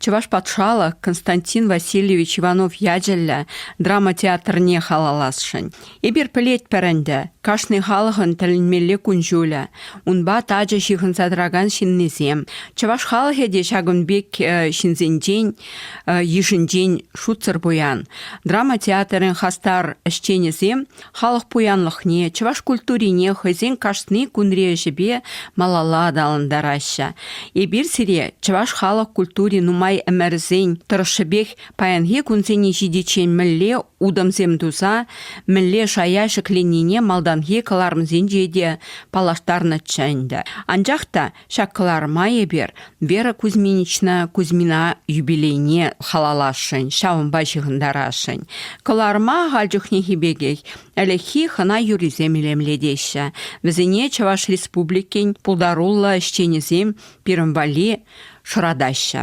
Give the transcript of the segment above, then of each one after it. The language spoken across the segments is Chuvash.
Чӑваш патшалӑх Константин Васильевич Иванов ячӗллӗ драма театрне халалласшӑн. Эпир пӗлетпӗр ӗнтӗ, кашни халӑхӑн тӗлӗнмелле кун-ҫулӗ. Унпа тачӑ ҫыхӑнса тӑракан ҫыннисем, чӑваш халӑхӗ те ҫакӑн пек ҫынсенчен йышӗнчен шутсӑр пуян. Драма театрӗн хастар ӗҫченӗсем халӑх пуянлӑхне, чӑваш культурине хӑйсен кашни кунри ӗҫӗпе малалла аталантараҫҫӗ. Эпир сире чӑваш халӑх культури нумай ӗмӗрсен тӑрӑшшӗпех паянхи кунсене ҫитиччен мӗнле утӑмсем туса, мӗнле шая ҫӗкленнине малтанхи кӑларӑмсенче те паллаштарнӑччӗ ӗнтӗ. Анчах та Ҫак кӑларӑма эпир Вера Кузьминична Кузьмина юбилейне халалласшӑн, ҫавӑнпа ҫыхӑнтарасшӑн. Кӑларӑма ахаль чухнехи пекех ӗлӗкхи хӑна юррисем илемлетеҫҫӗ. Вӗсене Чӑваш Республикин пултаруллӑ ӗҫченӗсем пирӗн валли шӑратаҫҫӗ.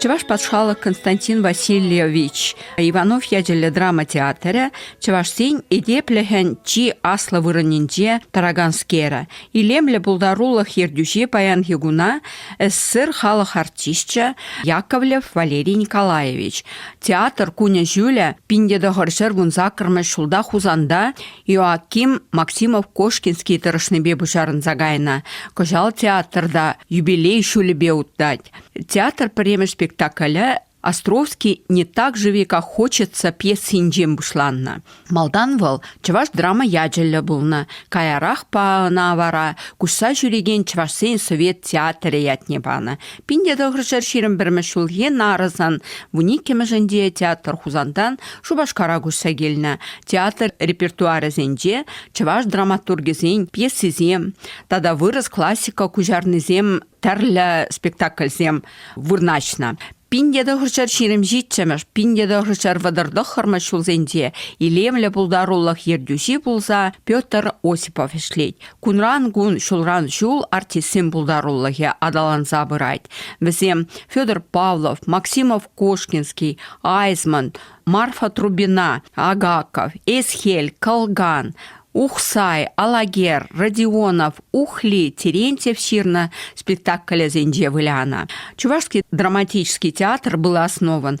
Чӑваш патшалӑх Константин Васильевич Иванов ячӗллӗ драма театрӗ чӑвашсен этеплӗхӗн чи аслӑ вырӑнӗнче тӑраканскерӗ. Илемлӗ пултарулӑх ертӳҫи паянхи куна СССР халӑх артисчӗ Яковлев Валерий Николаевич. Театр кунӗ ҫулӗ пин те тӑхӑр ҫӗр кун саккӑрмӗш ҫулта Хусанта Иоаким Максимов Кошкинский тӑрӑшнипе пуҫарӑнса кайнӑ. Кӑҫал театрта юбилей ҫулӗпе утать. Театр пӗрремӗш спектаклӗ Островский не так живи, как хочется пьесинчен пуҫланнӑ. Малтан вӑл чӑваш драма ячӗллӗ пулнӑ, каярахпа ӑна вара куҫса ҫӳрекен чӑвашсен совет театрӗ ятне панӑ. Пин те тӑхӑрҫӗр ҫирӗм пӗрмӗш ҫулхи нарӑсан вун иккӗмӗшӗнче театр Хусантан Шупашкара куҫса килнӗ. Театр репертуарӗсенче чӑваш драматургӗсен пьесисем тата вырӑс классика куҫарнисем тӗрлӗ спектакльсем вырнаҫнӑ. Пин тӑхӑрҫӑр ҫирӗмҫиччӗмӗш, пин тӑхӑрҫӑр вӑтӑртӑххӑрмӗш ҫулсенче илемлӗ пултарулӑх ертӳҫи пулса Петр Осипов ӗҫлет. Кунран кун, ҫулран ҫул артистсен пултарулӑхӗ аталанса пырать. Вӗсем Федор Павлов, Максимов Кошкинский, Айзман, Марфа Трубина, Агаков, Эсхель, Калган, Ухсай, Алагер, Родионов, Ухли, Терентьев ҫырнӑ спектаклӗсенче вылянӑ. Чувашский драматический театр был основан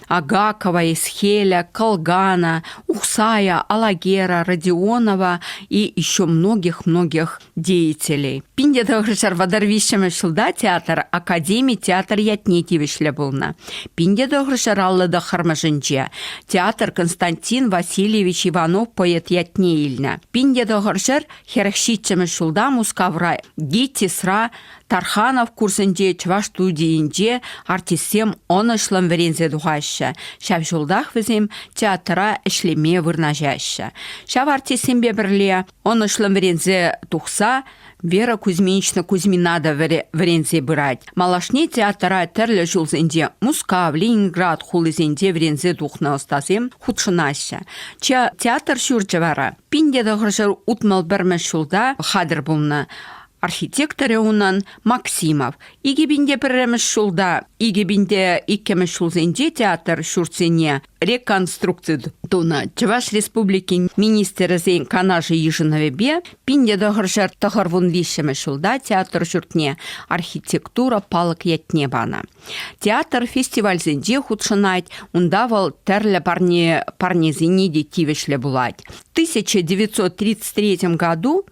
Агакова, Исхеля, Колгана, Ухсая, Алагера, Родионова и еще многих-многих деятелей. Пинде тӑхӑрҫӑр вӑтӑр виҫҫӗмӗш ҫулта театр академи театр ятне тивӗҫлӗ пулнӑ. Пинде тӑхӑрҫӑр аллӑ тӑххӑрмӗшӗнче театр Константин Васильевич Иванов поэт ятне илнӗ. Пинде тӑхӑрҫӑр хӗрӗх ҫиччӗмӗш ҫулта Мускавра ГИТИСра Тарханов курсӗнче чӑваш студийӗнче артистсем ӑнӑҫлӑн вӗренсе тухаҫҫӗ. Ҫав ҫултах вӗсем театра ӗҫлеме вырнаҫаҫҫӗ. Ҫав артистсемпе пӗрле ӑнӑҫлӑн вӗренсе тухса Вера Кузьминична Кузьмина та вӗренсе пырать. Малашне театра тӗрлӗ ҫулсенче Мускав, Ленинград хулисенче вӗренсе тухнӑ ӑстасем хутшӑнаҫҫӗ. Театр ҫурчӗ вара пин те тӑхӑрҫӗр утмӑл пӗрмӗш ҫулта хатӗр пулнӑ. Архитекторӗ унӑн Максимов. Икӗ пин те пӗрремӗш ҫулта, икӗ пин те иккӗмӗш ҫулсенче театр ҫуртсене реконструкци тунӑ. Чӑваш Республикин Министрӗсен Канашӗ йышӑнӑвӗпе пин те тӑхӑршар тӑхӑр вун виҫҫӗмӗш ҫулта театр ҫуртне архитектура палӑк ятне панӑ. Театр фестивальсенче хутшӑнать, унта вӑл тӗрлӗ парне парнесене те тивӗҫлӗ пулать. В 1933 году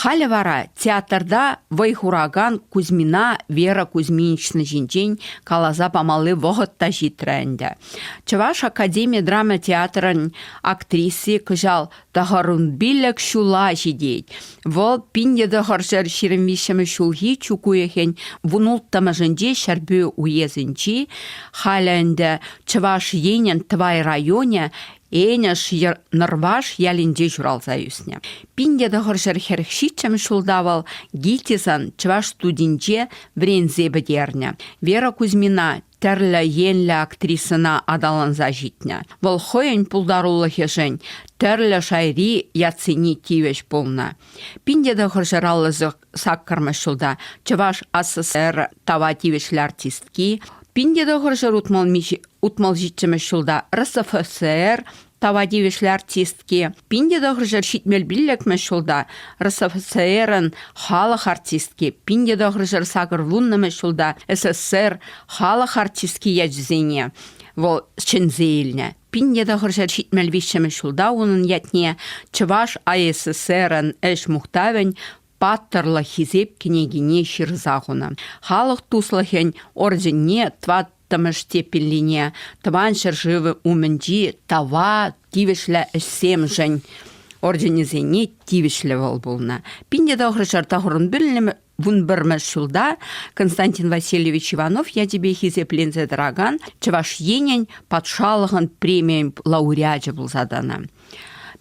Халӗ вара театрта вӑй хуракан Кузьмина Вера Кузьминична ҫинчен каласа памалли вӑхӑт та ҫитрӗ ӗнтӗ. Чӑваш академи драма театрӗн актриси кӑҫал тӑхӑрӑн пилӗк ҫула ҫитет. Вӑл пин тӑхӑрҫӗр ҫирӗм виҫҫӗмӗш ҫулхи чӳк уйӑхӗн вун улттӑмӗшӗнче Ҫӗрпӳ уесӗнчи, халӗ ӗнтӗ Чӑваш Енӗн Тӑвай районӗ Энӗш Нӑрваш ялӗнче ҫуралса ӳснӗ. Пин те тӑхӑр ҫӗр хӗрӗх ҫиччӗмӗш ҫулта вӑл ГИТИСӑн чӑваш студинче вӗренсе пӗтернӗ. Вера Кузьмина тӗрлӗ енлӗ актрисӑна аталанса ҫитнӗ. Вӑл хӑйӗн пултарулӑхӗшӗн тӗрлӗ шайри ятсене тивӗҫ пулнӑ. Пин те тӑхӑр ҫӗр аллӑсӑр саккӑрмӗш ҫулта Чӑваш СССР тава тивӗҫлӗ артистки, пин те тӑхӑрҫӗр утмал ҫиччӗмӗш ҫулта РСФСР тава тивӗҫлӗ артистки, пин те тӑхӑрҫӗр ҫитмел пиллӗкмӗш ҫулта РСФСРӑн халӑх артистки, пин те тӑхӑрҫӗр сакӑр вуннӑмӗш ҫулта СССР халӑх артистки ячӗсене вӑл ҫӗнсе илнӗ. Пинне тӑхӑрҫӗр ҫитмӗл виҫҫӗмӗш ҫулта унӑн ятне Чӑваш АССРӑн ӗҫ мухтавӗн Паттӑрлӑх хисеп кӗнекине ҫырса хунӑ. Халӑх туслӑхӗн орденне тӑваттӑмӗш теппиллине Тӑван ҫӗршывӗ умӗнчи тава тивӗҫлӗ ӗҫсемшӗн орденӗсене тивӗҫлӗ вӑл пулнӑ. Пинне тӑхӑрҫӗр тӑхӑрӑн пӗлнӗ Вун пӗрмӗш ҫулта Константин Васильевич Иванов ячӗпе хисепленсе тӑракан Чӑваш Енӗн патшалӑхӑн премийӗн лауреачӗ пулса тӑнӑ.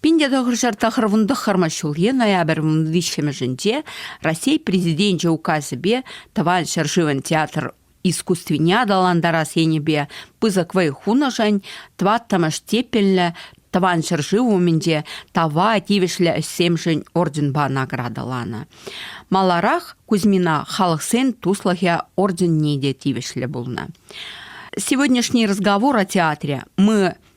Пинте тӑхӑрҫӑр тӑхӑр вун тӑххӑрмӗш ҫулхи ноябрь вун виҫҫӗмӗшӗнче Раҫҫей Президенчӗ указӗпе Тӑван ҫӗршывӑн театр искусствине аталантарас енӗпе пысӑк вӑй хунӑшӑн тӑваттӑмӗш тепеллӗ Тӑван ҫӗршыв умӗнче тава тивӗҫлӗ ӗҫсемшӗн орденпа наградӑланӑ. Маларах Кузьмина халӑхсен туслӑхӗ орденне те тивӗҫлӗ пулнӑ. Сегодняшний разговор о театре мы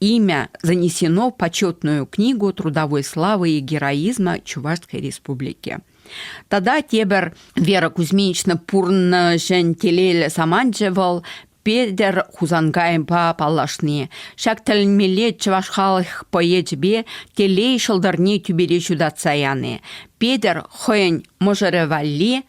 Имя занесено в почетную книгу трудовой славы и героизма Чувашской Республики. Тада тебер Вера Кузьминична пурнӑшӗн телейлӗ саманчӗ вӑл Петӗр Хусангайпа паллашни. Ҫак тӗлмеле чӑваш халӑх поэчӗпе телей ҫӑлтӑрне тӳпере ҫутатса яни. Петӗр хӑйӗн мӑшӑрӗ валли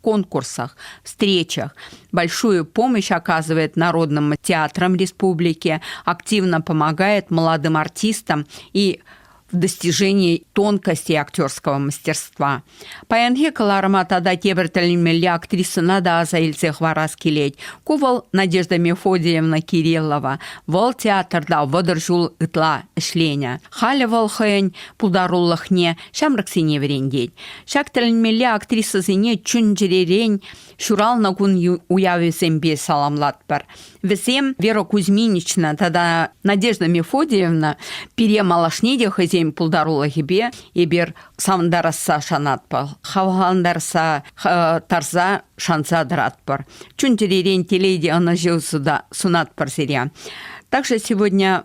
конкурсах, встречах. Большую помощь оказывает Народным театрам республики, активно помогает молодым артистам и в достижении тонкости актерского мастерства. Паянхи кӑларӑма тата тепӗр тӗлӗнмелле актрисӑна та аса илсе хӑварас килет. Ку вӑл Надежда Мефодиевна Кириллова. Вӑл театрта вӑтӑр ҫул ытла ӗҫленӗ. Халӗ вӑл хӑйӗн пултарулӑхне ҫамрӑксене вӗрентет. Ҫак тӗлӗнмелле актрисӑсене чун-чӗререн ҫуралнӑ кун уявӗсемпе саламлатпӑр. Вӗсем Вера Кузьминична тата Надежда Мефодиевна пире малашне те хӑйсен пултарулӑхӗпе эпир савӑнтарасса шанатпӑр, хавхалантарса тарса шанса тӑратпӑр. Чун-чӗререн телей те ӑнӑҫу сунатпӑр сире. Также сегодня